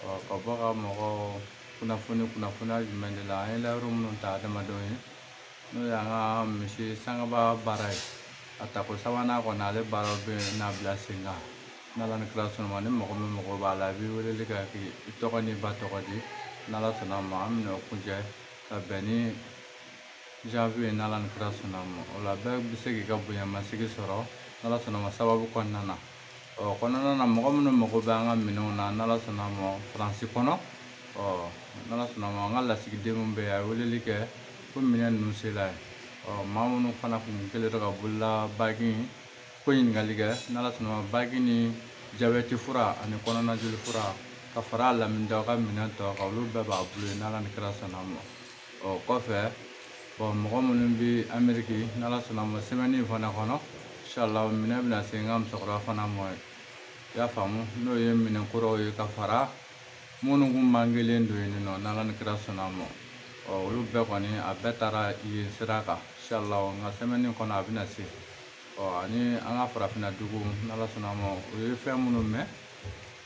ka bɔ ka mɔgɔ kunnafoni kunnafoniya jumɛn de la an ye layidu minnu ta adamadenw ye n'o y'an ka misi sangaba baara ye a tako sabanan kɔni ale baaraw bɛna bila sen kan n'ala ni kira sɔnna ni mɔgɔ min mago b'a la i bɛ weleli kɛ k'i tɔgɔ n'i ba tɔgɔ di n'ala sɔnna ma an bɛna o kuncɛ ka bɛn ni janvier ye n'ala ni kira sɔnna ma o la bɛɛ bɛ se k'i ka bonyamasigi sɔrɔ n'ala sɔnna ma sababu kɔnɔna na ɔ kɔnɔna na mɔgɔ minnu mago bɛ an ka minɛnw na n'ala sɔnna ma faransi kɔnɔ ɔ n'ala sɔnna ma an ka lasigiden minnu bɛ yen a ye weleli kɛ ko minɛn ninnu sela yen ɔ maa minnu fana kun kɛlen don ka bolola bagi ko ɲininkali kɛ n'ala sɔnna ma bagi ni jabɛti fura ani kɔnɔnajoli fura ka fara a laminida ka minɛn tɔ kan olu bɛɛ b'a bolo yen n'ala ni kira sɔnna ma ɔ kɔfɛ bɔn mɔgɔ minnu bɛ ameriki n'ala sɔnna ma sɛmɛni in fana kɔnɔ inshallah minɛn bɛna se n ka musokɔrɔba fana ma yen i y'a faamu n'o ye minɛn kuraw ye ka fara minnu kun mangelen don yen nɔ n'ala ni kira sɔnna ma ɔ olu bɛɛ kɔni a bɛɛ taara yen sira kan inshallah nka sɛmɛni kɔnɔ a bɛna se ɔ ani an ka farafinna dugu n'ala sɔnna ma o ye fɛn minnu mɛn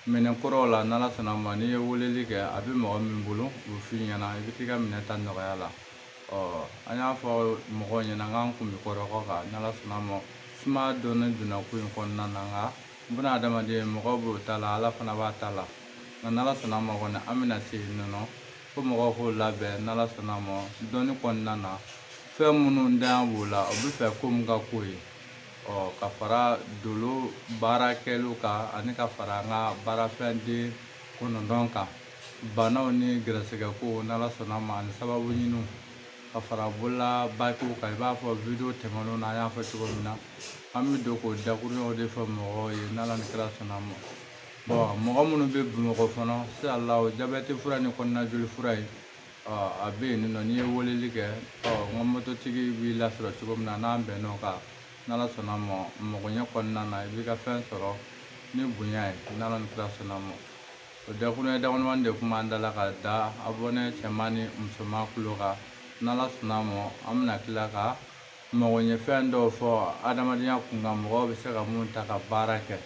Minɛn kɔrɔw la n'ala sɔnna ma n'i ye weleli kɛ a bɛ mɔgɔ min bolo o b'a f'i ɲɛna i bɛ t'i ka minɛn ta nɔgɔya la ɔ an y'a fɔ mɔgɔw ɲɛna k'an kun bɛ kɔrɔgɔ kan n'ala sɔnna ma suma dɔɔnin donna ko in kɔnɔna na nka buna adamaden mɔgɔ b'o ta la ala fana b'a ta la nka n'ala sɔnna ma kɔni an bɛna se yen nɔ ko mɔgɔw k'o labɛn n'ala sɔnna ma dɔɔnin kɔnɔna na fɛn minnu dan b'o la u b'a fɛ ko min ka k'o ye ɔ ka fara dolo baara kɛliw kan ani ka fara an ka baarafɛnden kɔnɔntɔn kan banaw ni gɛrɛsɛgɛko n'ala sɔnna ma ani sababu ɲiniw ka fara bolola bakiw kan i b'a fɔ video tɛmɛnenw na an y'a fɔ cogo min na an bɛ don k'o dakuruɲaw de fɔ mɔgɔw ye n'ala ni kira sɔnna ma bɔn mɔgɔ minnu bɛ bamakɔ fana inshallah jabɛti fura ni kɔnɔnajoli fura ye a bɛ yen nɔ n'i ye weleli kɛ ɔ n ka mototigi b'i lasɔrɔ cogo min na n'an bɛnn'o kan n'ala sɔnna ma magoɲɛ kɔnɔna na i b'i ka fɛn sɔrɔ ni bonya ye n'ala ni kira sɔnna ma o dakuruɲɛ damadamani de kun b'an da la ka da abɔnɛ cɛman ni musoman kulo kan n'ala sɔnna ma an bɛna tila ka Magoɲɛfɛn dɔw fɔ adamadenya kunkan mɔgɔw bɛ se ka mun ta ka baara kɛ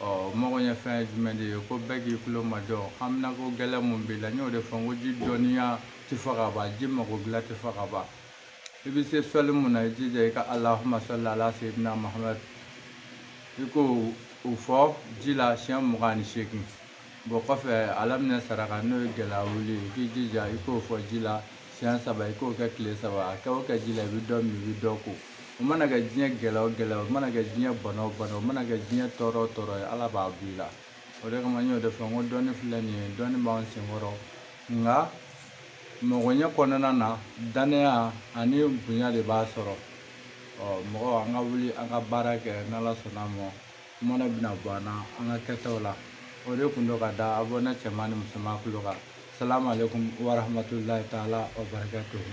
ɔ magoɲɛfɛn ye jumɛn de ye ko bɛɛ k'i tulo majɔ haminako gɛlɛn mun b'i la n y'o de fɔ n ko ji dɔnniya tɛ fɔ ka ban ji mago dilan tɛ fɔ ka ban i bɛ se sɔli mun na i jija i ka alahuma sɔli ala seyidina mahamadu i k'o fɔ ji la siɲɛ mugan ni seegin bɔn kɔfɛ ala minɛ saraka n'o ye gɛlɛya wuli i k'i jija i k'o fɔ ji la siɲɛ saba i k'o kɛ tile saba a kɛ o kɛ ji la i bɛ dɔ min i bɛ dɔ ko o mana kɛ diɲɛ gɛlɛya o gɛlɛya o mana kɛ diɲɛ bana o bana o mana kɛ diɲɛ tɔɔrɔ o tɔɔrɔ ye ala b'a b'i la o de kama n y'o de fɔ n ko dɔnni filɛ nin ye dɔnni b'an senkɔrɔ nka mɔgɔɲɛ kɔnɔna na dannaya ani bonya de b'a sɔrɔ mɔgɔw an ka wuli an ka baara kɛ n'ala sɔnna a ma Mana bɛna bɔ an na an ka kɛtaw la o de kun don ka da abɔne cɛman ni musoman kulu kan salamu aleykum warahamatulayi taala wa barakatuhu